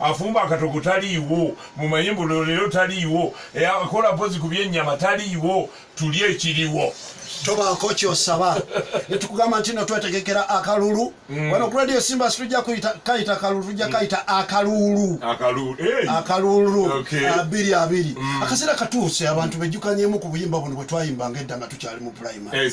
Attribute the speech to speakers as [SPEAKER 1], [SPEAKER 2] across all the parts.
[SPEAKER 1] afumba akatogo taliiwo mumanye mbu leero taliiwo e, akola mpozi ku byennyama taliiwo tuli ekiriwo tobaako
[SPEAKER 2] kyosaba netukugamba nti no twetegekera akalulu mm. wano ku radio simba situja kayita kalulu tujja mm. kayita akaluulu akaluulu abiri abiri mm. akaseera katuuse abantu bejjukanyemu ku buyimba buno bwetwayimbanga edda nga tukyali mu primary eh,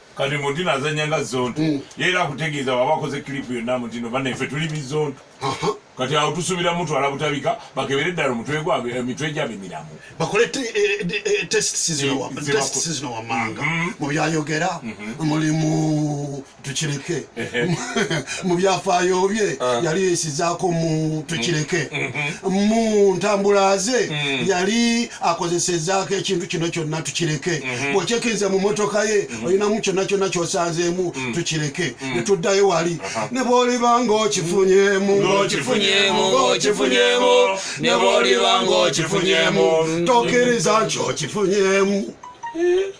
[SPEAKER 1] kati muti nazanya nga zonto mm. yera akutegeeza waba akoze kilipu yonna mutino banaife tuli bizonto kati awo tusubira mutwala butabika bakebere eddala omutwe gwabwe emitwe eh, gyabwe miramu bakole
[SPEAKER 2] testesizino wamanga mubyayogera mulimu tukireke mu byafaayo bye ah. yali yesizaako mu tukireke mm, mm, mm. mu ntambula ze yali akozesezaako ekintu kino kyonna tukireke mm-hmm. bwokyekkiriza mu motoka ye mm-hmm. olinamu kyonna kyonna kyosanzeemu tukireke netuddayo wali uh-huh. ne bwoliba ngaokifunyemu tokiriza nti okifunyemu eh?